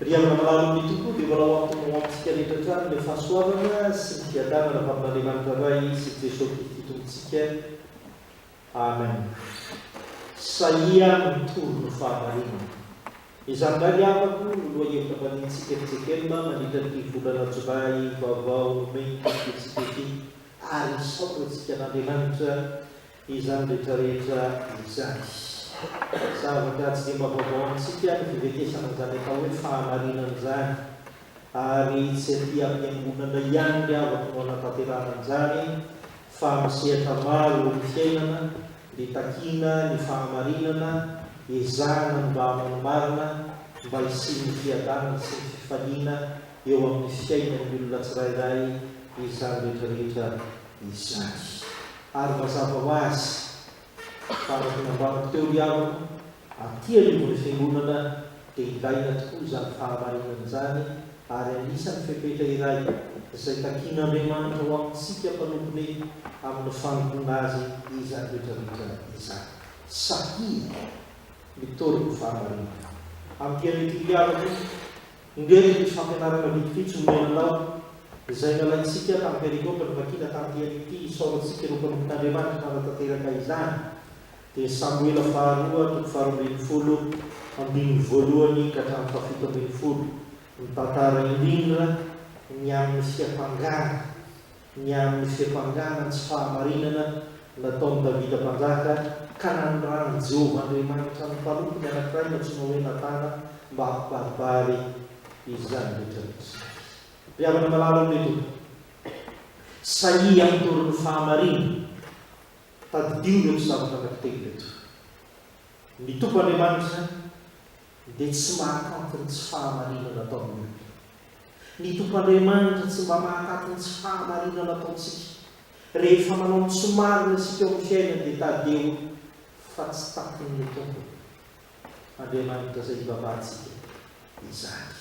Ry havana marobe tokoa dia mbola ho antomo ho amintsika rehetra hatrany ilay fahasoavana sy ny fiadanana avy amin'Andriamanitra Ray sy Jesoa Kristy Tompontsika. Amen. Sahia mitory ny fahamarinana. Izany indray ny havako no lohahevitra ambaniantsika ry JKM mandritra ity volana Jolay vaovao May ity fotoantsika ity ary misaotra antsika an'Andriamanitra Izany rehetra rehetra izany. Zavatra tsy dia mba vaovao amintsika ny fivetesana an'izany atao hoe fahamarinana izany, ary tsy aty am-piangonana ihany ry havako no anatanterahana an'izany, fa amin'ny sehatra maro eo amin'ny fiainana dia takiana ny fahamarinana, ezahana ny mba hanao ny marina, mba hisian'ny fiadanana sy ny fifaliana eo amin'ny fiainan'ny olona tsirairay izany rehetra rehetra izany. Ary mazava ho azy fa araka ny nambarako teo ry havana, aty anivon'ny fiangonana dia ilaina tokoa izany fahamarinana izany ary anisan'ny fepetra iray izay takian'Andriamanitra ho amintsika mpanompony amin'ny fanompoana Azy izany rehetrarehetra izany. Sahia mitory ny fahamarinana amin'ity anio ity ry havana o! Indreto ny fampianarana vitsivitsy omena tao, izay nalaintsika tamin'ny perikôpy nivakiana tamin'ity andro'ity isaorantsika ireo mpanompon'ny Andriamanitra nanatanteraka izany, dia Samoela faharoa toko faharoa ambin'ny folo, andininy voalohany ka hatramin'ny fahafito ambin'ny folo. Mitantara indrindra ny amin'ny fiampangana ny amin'ny fiampangana ny tsy fahamarinana nataon'i Davida Mpanjaka, ka nanirahan'i Jehovah Andriamanitra ny mpanompony anankiray nantsoina hoe Natana mba hampibaribary izany rehetra nisy azy. Ry havana malala ao Metoda, sahia amin'ny torin'ny fahamarinana, tadidio ireto zavatra anankitelo ireto, Ny Tompo Andriamanitra dia tsy mahakanto ny tsy fahamarinana ataon'ny olona. Ny Tompo Andriamanitra tsy mba mahataty ny tsy fahamarinana ataontsika. Rehefa manao ny tsy marina isika eo amin'ny fiainana dia tadidio fa tsy takin'ny Tompo Andriamanitra izay ivavantsika izany.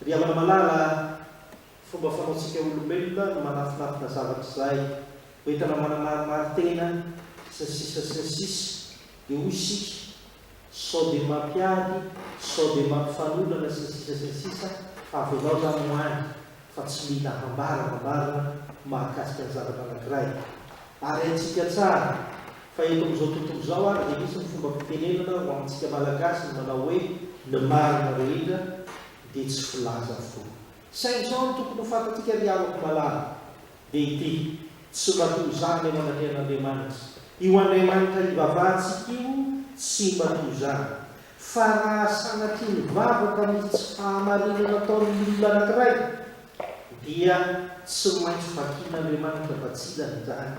Ry havana malala, fomba fanaontsika olombelona no manafinafina zavatra izay ho entana manamarimary tena sy ny sisa sy ny sisa dia hoy isika Sao dia mampiady, sao dia mampifanolana sy ny sisa sy ny sisa, avelao zany ho any fa tsy mila hambarangambarana mahakasika ny zavatra anankiray. Ary haintsika tsara fa eto amin'izao tontolo izao ary dia misy ny fombam-pitenenana ho amintsika Malagasy ny manao hoe ny marina rehetra dia tsy filaza fo. Saingy sao no tokony ho fantatsika ry havako malala dia ity, Tsy mba toy izany ny eo anatrehan'Andriamanitra. Io Andriamanitra hivavahantsika io tsy mba toy izany. Fa raha sanatria nivavaka misy tsy fahamarinan ataon'ny olona anankiray, dia tsy maintsy vakian'Andriamanitra fa tsy ilany izany.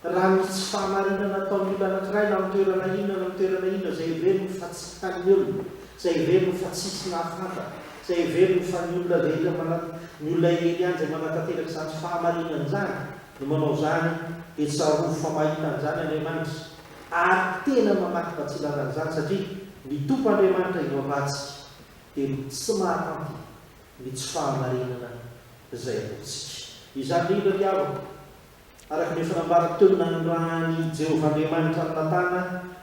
Raha ny tsy fahamarinana ataon'ny olona anankiray na amin'ny toerana inona na amin'ny toerana inona, izay heveriny fa tsy tian'ny olona, izay heveriny fa tsisy nahafantatra, izay heveriny fa ny olona rehetra manat, ny olona eny ihany izay manatanteraka izany fahamarinana izany no manao izany, dia tsarovy fa mahita an'izany Andriamanitra, ary tena mamaky batsilana an'izany, satria ny Tompo Andriamanitra eo ambadika dia tsy mahatanty ny tsy fahamarinana izay ataontsika. Izany indrindra ny havako. Araka ny efa nambarako teo, nanirahan'i Jehovah Andriamanitra an'i Natana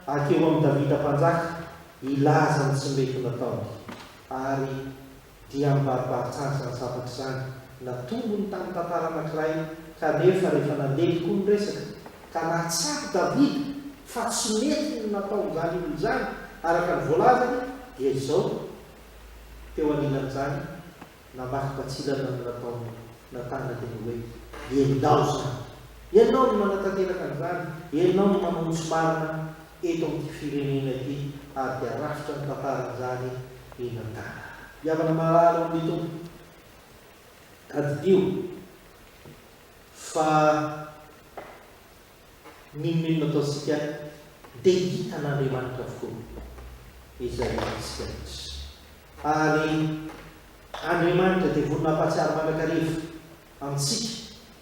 hankeo amin'i Davida Mpanjaka hilaza ny tsy mety nataony, ary dia am'baribarin-tsarotra nizavaka izany. Natombony tamin'ny tantara anankiray, kanefa rehefa nandeha tokoa ny resaka, ka nahatsapa Davida fa tsy mety ny nataon'izany olona izany, araka ny voalazany, dia izao, teo anilan'izany, Namaky tatsilana ny nataon'i Natana teny hoe, Ianao izany! Ianao no manatanteraka an'izany! Ianao no manao ny tsy marina eto amin'ity firenena ity! Ary dia rafitra ny tantaran'izany i Natana. Ry havana marary ao amin'ny Tompo, tadidio fa. N'inon'inona ataontsika dia hitan'Andriamanitra avokoa izay ataontsika rehetra. Ary Andriamanitra dia vonona hampahatsiaro mandrakariva amintsika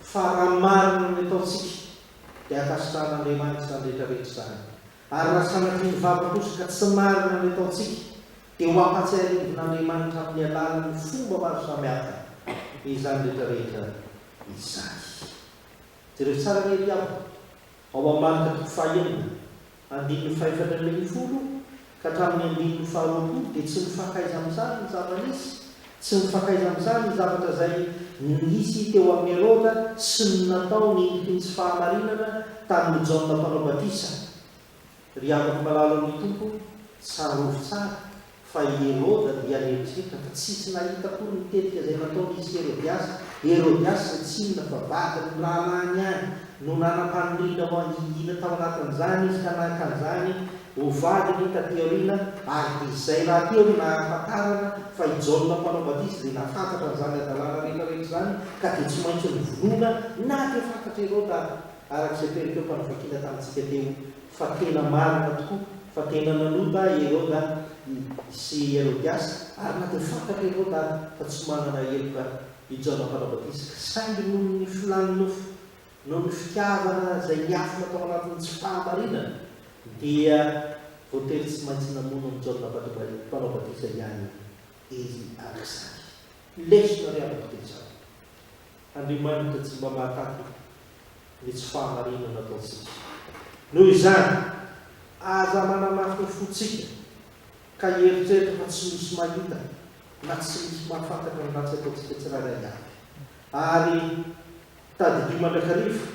fa raha marina ny ataontsika dia ankasitrahan'Andriamanitra izany rehetrarehetra izany. Ary raha sanatria ny vava kosa ka tsy marina ny ataontsika dia ho ampahatsiarin'Andriamanitra amin'ny alalan'ny fomba maro samihafa izany rehetrarehetra izany. Jereo tsara anie ry havana, ao amin'ny marika toko fahaenina, andininy fahefatra ambin'ny folo ka hatramin'ny andininy faharoapolo dia tsy mifakaiza amin'izany ny zava-nisy, tsy mifakaiza amin'izany ny zavatra izay nisy teo amin'i Heroda sy ny nataony indriny tsy fahamarinana tamin'i Jaona Mpanao Batisa. Ry andry malalan'ny Tompo tsarovy tsara fa i Heroda dia nieritreritra fa tsisy nahita akory ny tetika izay nataon'izy Herodiasa, Herodiasa izay tsy inona fa vadiny ny rahalahiny ihany no nanam-paniriana ho hangingina tao anatin'izany izy ka naka an'izany ho vadiny taty aoriana ary dia izay rahateo no nahafantarana fa i Jaona mpanao batisa dia nahafantatra an'izany hadalana rehetrarehetra izany ka dia tsy maintsy novonoina na dia fantatr'i Heroda Araka izay toeram-pivakina tamintsika teo fa tena marina tokoa fa tena nanota Heroda sy Herodiasa ary na dia fantatra Heroda ary fa tsy manana heloka i Jaona Mpanao Batisa saingy noho ny filàn'ny nofo, noho ny fitiavana izay niafina tao anatin'ny tsy fahamarinana dia voatery tsy maintsy namono an'i Jaona Mpanao Batisa ihany izy araka izany. Lesona ry havako dia izao. Andriamanitra tsy mba mahataty ny tsy fahamarinana ataontsika. Noho izany, aza manamafy ny fontsika ka hieritreritra fa tsy misy mahita na tsy misy mahafantatra ny ratsy ataontsika tsirairay avy. Ary tadidio mandrakariva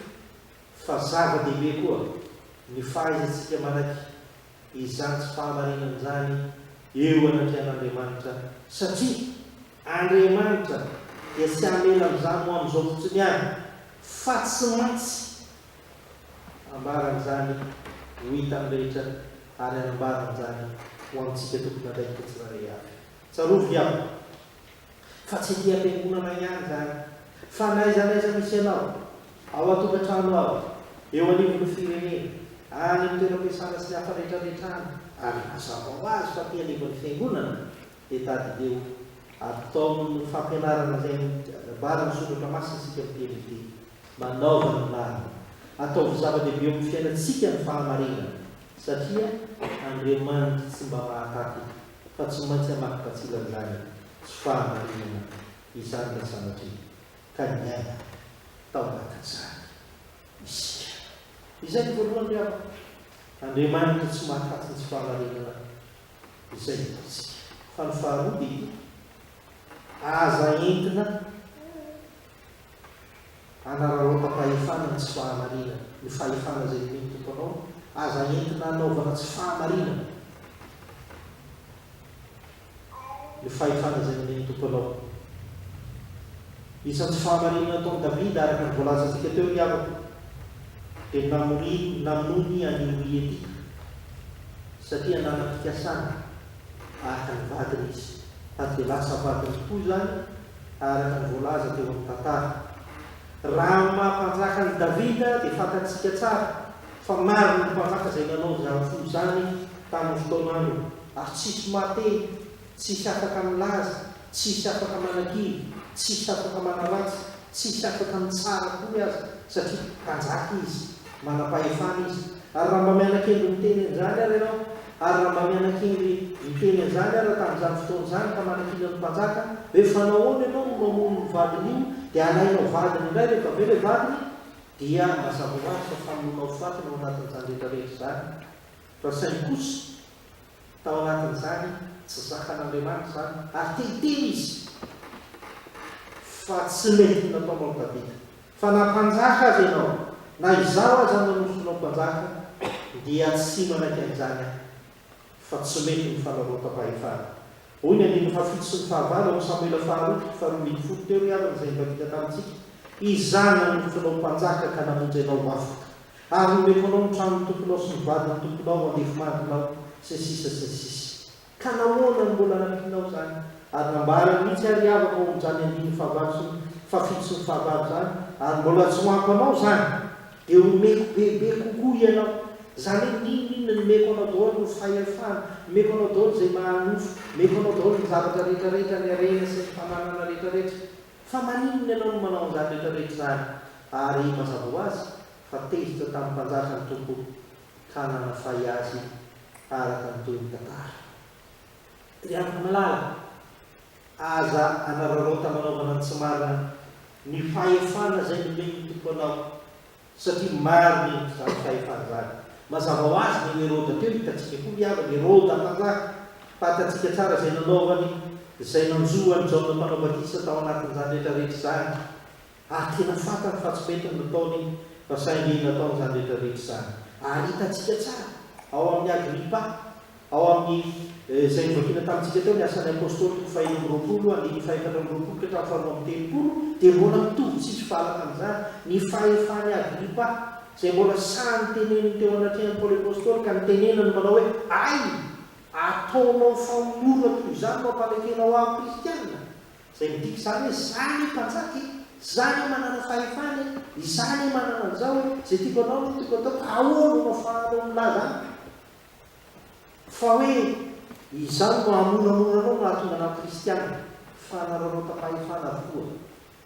fa zava-dehibe koa ny fahaizantsika manaiky izany tsy fahamarinana izany eo anatrehan'Andriamanitra, satria Andriamanitra dia tsy hamela an'izany ho amin'izao fotsiny ihany, fa tsy maintsy hambarany izany ho hitan'ny rehetra ary hanambarany izany ho amintsika tompon'andraikitra tsirairay avy. Tsarovy ry havana, fa tsy ety am-piangonana ihany izany, fa n'aiza n'aiza misy anao, ao an-tokantrano ao, eo anivon'ny firenena, any amin'ny toeram-piasana sy ny hafa rehetrarehetra any, ary mazava ho azy fa aty anivon'ny fiangonana, dia tadidio ary tao amin'ny fampianarana izay nambaran'ny Soratra Masina isika miteny ny teny. Manaova ny marina. Ataovy zava-dehibe eo amin'ny fiainantsika ny fahamarinana, satria Andriamanitra tsy mba mahataty fa tsy maintsy hamaky batsilan'izany tsy fahamarinana izany raha sanatria ka niaina tao anatin'izany isika. Izay no voalohany ry havana. Andriamanitra tsy mahataty ny tsy fahamarinana izay hitantsika. Fa ny faharoa dia ity, aza entina hanararaotam-pahefana ny tsy fahamarinana, ny fahefana izay nomen'ny Tompo anao, aza entina hanaovana tsy fahamarinana ny fahefana izay nomen'ny Tompo anao. Isan'ny tsy fahamarinana nataon'i Davida, araka ny voalazantsika teo ny havako, dia ny namoriany, namonoany an'i Oria Etita. Satria anaram-pikasana araka ny vadiny izy, ary dia lasa vadiny tokoa izany araka ny voalaza teo amin'ny tantara. Raha amin'ny maha mpanjaka an'i Davida dia fantatsika tsara fa maro ny mpanjaka izay nanao izany fo izany tamin'ny fotoanany, ary tsy hisy mahateny Tsisy afaka milaza, tsisy afaka manakivy, tsisy afaka manaratsy, tsisy afaka mitsara akory aza, satria mpanjaka izy, manam-pahefana izy. Ary raha mba mianakendry miteny an'izany ary ianao, ary raha mba mianakendry miteny an'izany ary tamin'izany fotoana izany ka manakiana ny mpanjaka, hoe fa nahoana ianao no mamono ny vadin'io, dia alainao vadiny indray rehefa avy eo ilay vadiny, dia mazava ho azy fa famonoana ho faty ny ao anatin'izany rehetra rehetra izany, fa saingy kosa, Tao anatin'izany, tsy zakan'Andriamanitra izany, ary te hiteny izy, fa tsy mety nataonao ny tadidiko, fa na mpanjaka aza ianao, na izaho aza no nanosotr'nao mpanjaka, dia tsy manaiky an'izany aho, fa tsy mety ny fanarotapahefana. Hoy ny andininy fahafito sy ny fahavalo ao amin'ny Samoela faharoa toko faharoa ambin'ny folo teo ry havana izay nivadika tamintsika, Izaho no nanosotr'anao mpanjaka ka namonjy anao ho afaka. Ary homeko anao ny tranon'ny tomponao sy ny vadin'ny tomponao ho andefimandrinao, sy ny sisa sy ny sisa. Ka nahoana no mbola nampianao izany? Ary nambarany mihitsy àry i Ava fa hominjàny andininy fahavalo sy ny fahafito sy ny fahavalo izany, ary mbola tsy ho ampy anao izany, dia homeko bebe kokoa ianao. Izany hoe n'inon'inona ny omeko anao daholo no fahefana, omeko anao daholo izay maha-nofo, omeko anao daholo ny zavatra rehetrarehetra, ny harena sy ny fananana rehetrarehetra. Fa maninona ianao no manao an'izany rehetra rehetra izany? Ary mazava ho azy fa tezitra tamin'ny mpanjaka ny Tompo ka nanafay azy araka ny tohin'ny tantara. Ry ampamalala, aza anararaotan'anaovana ny tsy marina ny fahefana izay nomen'ny Tompo anao, satria maro ny mpitandro fahefana izany. Mazava ho azy ny Heroda teo hitantsika koa ny havany, Heroda mpanjaka, fantatsika tsara izay nanaovany, izay nanjo an'i Jaona Mpanao Batisa tao anatin'izany rehetrarehetra izany, ary tena fantany fa tsy mety ny nataony fa saingy nataony izany rehetrarehetra izany. Ary hitantsika tsara ao amin'i Agripa Ao amin'ny izay novakina tamintsika teo ny Asan'ny Apôstôly toko fahenina amby roapolo andininy fahefatra amby roapolo ka hatramin'ny faharoa amby telopolo dia mbola mitovy tsisy valaka amin'izany ny fahefan'i Agripa izay mbola sahy niteneniny teo anatrehan'i Paoly Apôstôly ka nitenenany manao hoe, Hay! Ataonao famonorona toy izany no ampamekenao ahy ho kristiana? Izay midika izany hoe, Izaho anie mpanjaka e! Izaho anie manana fahefana e! Izaho anie manana an'izao e! Izay tiako anao anie no tiako atao ka ahoana no afahanao milaza amiko? Fa hoe izany no hamoramora anao no hahatonga anao kristiana, fa anareo anota-pahefana avokoa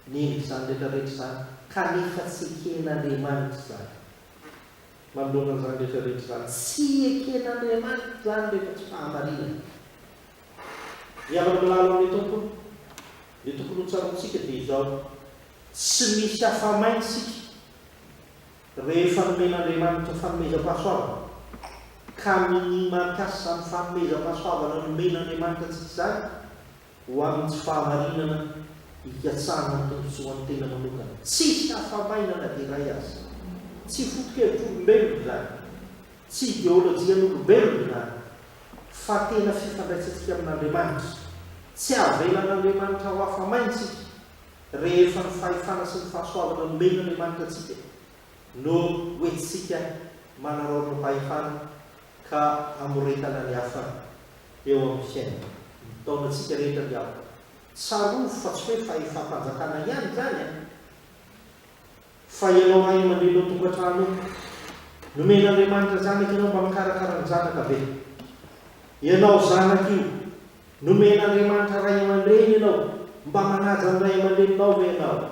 no endrika izany rehetra rehetra izany, kanefa tsy eken'Andriamanitra izany. Manoloana an'izany rehetra rehetra izany, tsy eken'Andriamanitra izany rehefa tsy fahamarinana. Ny havana malala ao amin'ny Tompony, ny tokony hotsaroantsika dia izao, tsy misy afa-main isika Rehefa nomen'Andriamanitra ny fanomezam-pahasoavana, ka minia mampiasa izany fanomezam-pahasoavana nomen'Andriamanitra antsika izany ho amin'ny tsy fahamarinana hikatsahana ny tombontsoan'ny tena manokana. Tsisy hafa-maina na dia iray aza. Tsy foto-kevitr'olombelona izany. Tsy ideolojian'olombelona izany. Fa tena fifandraisantsika amin'Andriamanitra. Tsy avelan'Andriamanitra ho hafa-maina isika, rehefa ny fahefana sy ny fahasoavana nomen'Andriamanitra antsika no hoentintsika manaraotra fahefana ka hamoretana ny hafa eo amin'ny fiainana. Mitaona antsika rehetra ny ao. Tsarovy fa tsy hoe fahefam-panjakana ihany izany an! Fa ianao ray aman-dreny ao tokantrano ao, nomen'Andriamanitra zanaka ianao mba mikarakara ny zanaka ve? Ianao zanaka io, nomen'Andriamanitra ray aman-dreny ianao, mba manaja ny ray aman-dreninao ve ianao?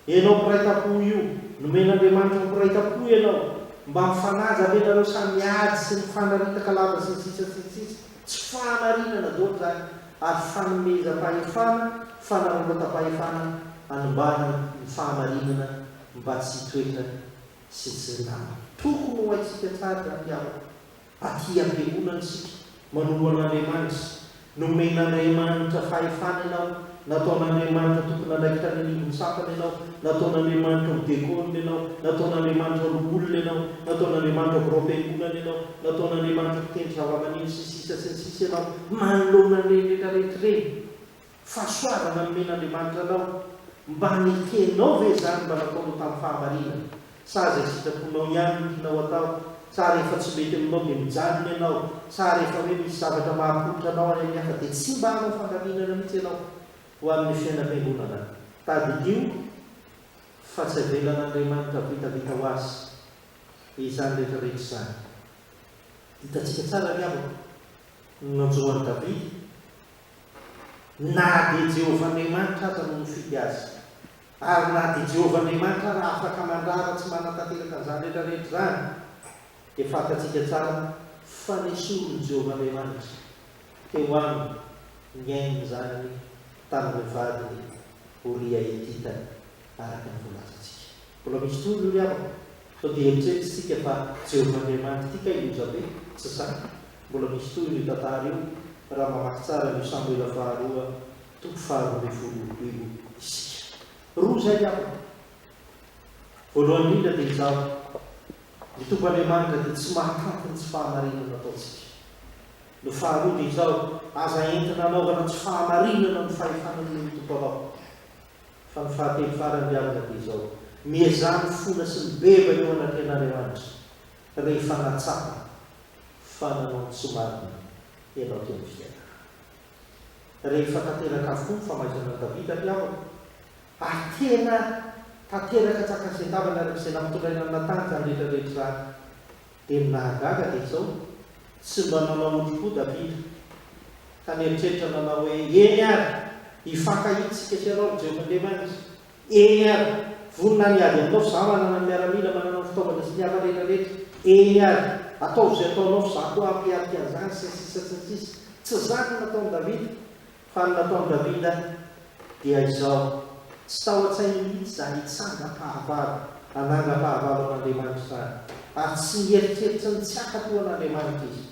Ianao mpiray tam-po io, nomen'Andriamanitra ho mpiray tam-po ianao, mba mifanaja ve ianareo samy miady sy mifanaritak'alava sy ny sisa sy ny sisa? Tsy fahamarinana daholo izany ary fanomezam-pahefana, fanararaotam-pahefana hanimbana ny fahamarinana mba tsy hitoetra sy tsy hilamina. Tokony ho haintsika tsara izany ry havana fa tia am-piangonana isika. Manompo an'Andriamanitra. Nomen'Andriamanitra fahefana ianao Nataon'Andriamanitra tompon'andraikitra any anivon-tsapana ianao. Nataon'Andriamanitra ho dekôna ianao. Nataon'Andriamanitra loholona ianao. Nataon'Andriamanitra birao fiangonana ianao. Nataon'Andriamanitra mpitendry zavamaneno sy ny sisa sy ny sisa ianao. Manoloana an'ireny rehetra rehetra ireny, fahasoavana nomen'Andriamanitra anao, mba nekenao ve izany mba nataonao tamin'ny fahamarinana? Sa izay sitraponao ihany no tianao atao? Sa rehefa tsy mety aminao dia mijanona ianao? Sa rehefa hoe misy zavatra mahapoitra anao any amin'ny hafa dia tsy mba hanao fandaminana mihitsy ianao ho amin'ny fiainam-piangonana? Tadidio fa tsy avelan'Andriamanitra vitavita ho azy izany rehetrarehetra izany. Hitantsika tsara ry havako ny nanjo an'i Davida, na dia Jehovah Andriamanitra aza no nifidy azy. Ary na dia Jehovah Andriamanitra aza afaka mandrara tsy manatanteraka an'izany rehetrarehetra izany, dia fantatsika tsara fa nesorin'i Jehovah Andriamanitra teo aminy ny ain'ny zanany tamin'ireo vadiny Oria Hetita, araka ny voalazantsika. Mbola misy tohiny io ry havako. Sao dia eritreretintsika fa Jehovah Andriamanitra ity kay loza be? Tsy izany. Mbola misy tohiny io tantara io, raha mamaky tsara an'io Samoela Faharoa Toko faharoa ambin'ny folo io isika roa izay angamba. Voalohany indrindra dia izaho. Ny Tompo Andriamanitra dia tsy mahatanty ny tsy fahamarinana nataontsika. Ny faharoa dia izao, aza entina anaovana tsy fahamarinana ny fahefana nomen'ny Tompo anao. Fa ny fahatelo farany ry havana dia izao, miezaha ny fona sy ny beva eo anatrehan'Andriamanitra rehefa nahatsapa fa nanao ny tsy marina ianao teo amin'ny fiainana. rehefa tanteraka avokoa ny famaizana an'i Davida ry havana, ary tena tanteraka tsy ankasian-tavana araka izay nampitondraina an'i Natana izany rehetra rehetra izany. Dia ny nahagaga dia izao, tsy mba nanao otrim-po Davida, ka nieritreritra nanao hoe, Eny ary, hifankahitsika sy ianao ry Jehovahandriamanitra, Eny ary! Vonona ny hiady aminao f'izaho manana ny miaramila, manana ny fitaovana sy ny hafa rehetra rehetra. Eny ary! Ataovy izay ataonao f'izaho koa hampiatrika an'izany, sy ny sisa sy ny sisa. Tsy izany no nataon'i Davida. Fa ny nataon'i Davida dia izao, Tsy tao an-tsainy mihitsy izany hitsangam-pahavalo, hanangam-pahavalo an'Andriamanitra izany. Ary tsy nieritreritra ny tsy hankatò an'Andriamanitra izy.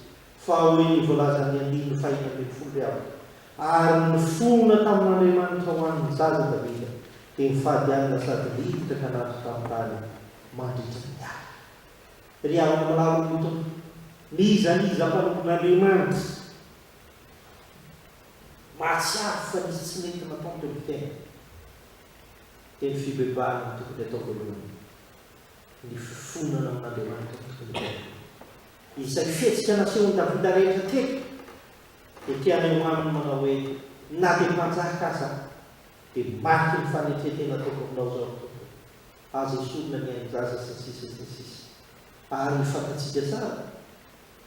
fa hoy ny voalazan'ny andininy fahiny ambin'ny folo hoe avy ary nifohona tamin'Andriamanitra ho an'ny zaza Davida dia nifady alina sady niditra ka nato tamin'ny tany mandritra ny alina. Ry havana mirary ho mitondra. N'iza n'iza mpanompon'Andriamanitra mahatsiaro fa nisy tsy nety nataony teo amin'ny fiainany dia ny fibebahana no tokony atao voalohany, ny fifonana amin'Andriamanitra no tokony atao voalohany. Izay fihetsika nasehon'i Davida rehetra teto dia te haneho aminy manao hoe, Na dia mpanjaka aza aho, dia mariky ny fanetren-tena ataoko aminao izao ry Tompo e. Aza esorina ny ain-jaza sy ny sisa sy ny sisa. Ary fantatsika tsara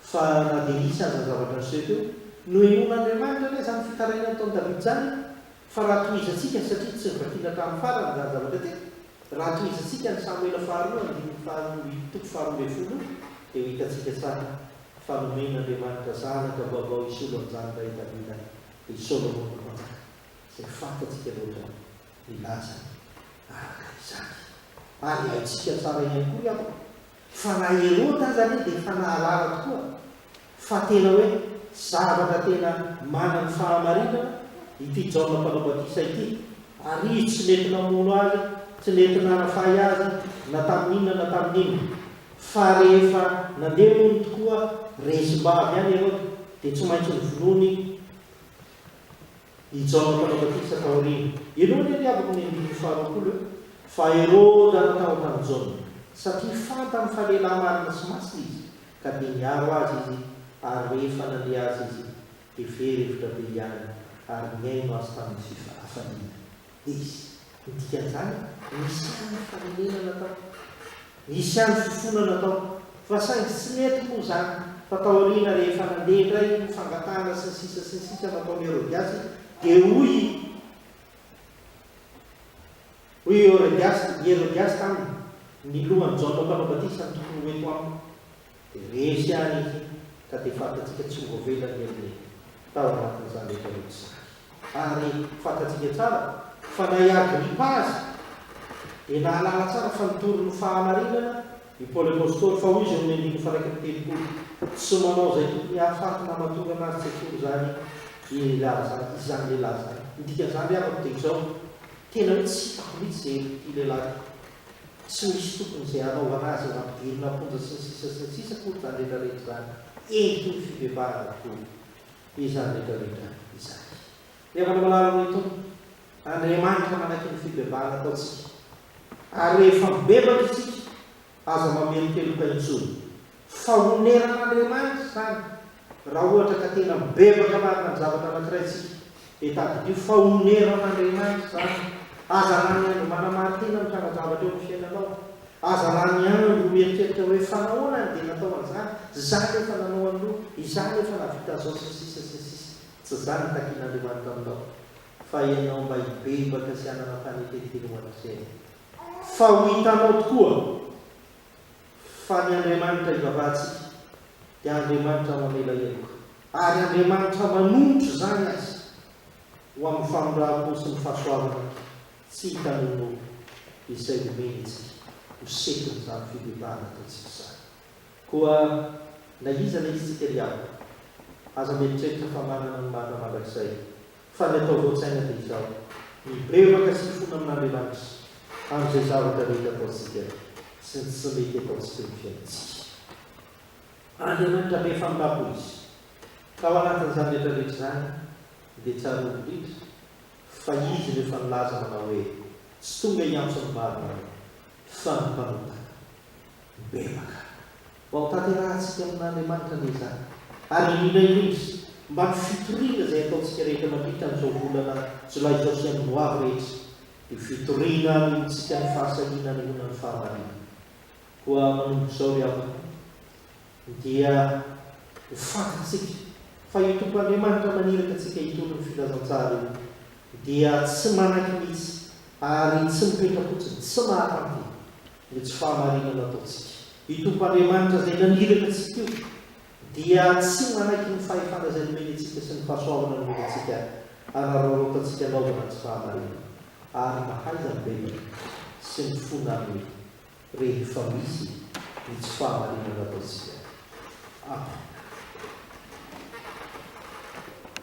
fa na dia nisy aza ny zavatra niseho teo, nohenoin'Andriamanitra anie izany fitarainana nataon'i Davida izany. Fa raha tohizantsika, satria tsy novakiana hatramin'ny farany izany zavatra teto, raha tohizantsika an'i Samoela faharoa andininy faharoa amby toko faharoa ambin'ny folo, dia ho hitantsika tsara fa nomen'Andriamanitra zanaka vaovao hisolo an'i zanaka i Davida, i Solomona Mpanjaka, izay fantatsika loatra ny lanjany araka izany. Ary haintsika tsara ihany koa angamba Fa na Heroda aza anie dia efa nahalala tokoa fa tena hoe zavatra tena manana ny fahamarinana ity Jaona Mpanao Batisa ity, ary izy tsy nety namono azy, tsy nety nanafay azy na tamin'inona na tamin'inona. Fa rehefa nandeha hono tokoa resim-bavy any Heroda dia tsy maintsy novonoiny. I Jaona Mpanao Batisa taoriana. Ianao anie ry havako ny andininy faharoapolo eo fa Heroda no tao tamin'i Jaona, satria fantany fa lehilahy marina sy masina izy, ka dia niaro azy izy, ary rehefa nandre azy izy, dia very hevitra be hianany, ary nihaino azy tamin'ny fifafaliana. izy. Ny dikan'izany, nisy ihany ny fanenenana tao. Nisy ihany fifonana tao. Fa saingy tsy nety moa izany, fa tao aoriana rehefa nandeha indray ny fangatahana sy ny sisa sy ny sisa nataon'i Herodiasy, dia hoy i Hoy i Herodiasy i Herodiasy taminy, Ny lohan'i Jaona Mpanao Batisa no tokony ho eto amiko. Dia resy àry izy, ka dia fantatsika tsy ho voavela ny heriny tao anatin'izany rehetra ireo mpizaly. Ary fantatsika tsara fa na i Agripa aza dia nahalala tsara fa nitory ny fahamarinana i Paoly Apostoly, fa hoy izy ao amin'ny andininy faha-iraika amby telopolo, Tsy manao izay tokony hahafaty na mahatonga anazy tsy hatory izany i lehilahy izany, izany lehilahy izany. Ny dikan'izany ry havako dia izao, Tena hoe tsy hitako mihitsy izay herim-pity lehilahy ity. Tsy misy tokony izay hanao anazy eo hampidirina am-ponja sy ny sisa sy ny sisa akory izany rehetra rehetra izany. Endriky ny fibebahana avokoa izany rehetra rehetra izany. Ny havana malala noho itony, Andriamanitra manaky ny fibebahana ataontsika. Ary rehefa mibebaka isika, aza mamelokeloka intsony. Fahoneran'Andriamanitra izany raha ohatra ka tena bebaka marina amin'ny zavatra anankiray isika, dia tadidio fahoneran'Andriamanitra izany. Aza lany andro manamarin-tena mitrangan-javatra eo amin'ny fiainanao. Aza lany andro mieritreritra hoe, fa nahoana aho no dia natao an'izany? Izaho ve efa nanao an'io? Izaho ve efa nahavita an'izao? sy ny sisa sy ny sisa. Tsy izany no takin'Andriamanitra aminao, fa ianao mba hibebaka sy hanana fanetren-tena ho an'Izay. Fa ho hitanao tokoa. fa ny Andriamanitra ivavahantsika dia Andriamanitra mamela heloka, ary Andriamanitra manonitra izany aza ho amin'ny famindram-po sy ny fahasoavana tsy hitan'ny olona izay nomeny antsika ho setin'izany fibebahana ataontsika izany. Koa na iza na iza tsika ry havana, aza mieritreritra fa manana ny marina mandrakizay Fa ny atao voan-tsaina dia izao, mibebaka sy fona amin'Andriamanitra amin'izay zavatra mety ataontsika sy ny tsy mety ataontsika eo amin'ny fiainantsika. Andriamanitra be fahambam-po Izy. Ka ao anatin'izany rehetra rehetra izany dia tsarovy indrindra fa Izy no efa nilaza manao hoe, Tsy tonga hiantso ny maro ianao, fa ny mpanota. Bebaka. Ho hampitanterahantsika amin'Andriamanitra anie izany, ary indrindra indrindra mba ny fitoriana izay ataontsika rehetra mandritra an'izao volana Jolay izao sy amin'ny hoavy rehetra, io fitoriana anehoantsika ny fahasahiana anehoana ny fahamarina. Koa manomboka izao ry havana o, dia ho fantatsika fa io Tompo Andriamanitra maniraka antsika hitory ny filazantsara io dia tsy manaiky mihitsy, ary tsy mipetra-potsiny, tsy mahatanty. ny tsy fahamarinana ataontsika. Io Tompo Andriamanitra izay naniraka antsika io dia tsy manaiky ny fahefana izay nomeny antsika sy ny fahasoavana nomeny antsika araraotantsika anaovana ny tsy fahamarinana ary mahaiza mibebaka sy mifona aminy rehefa misy ny tsy fahamarinana ataontsika. Amen.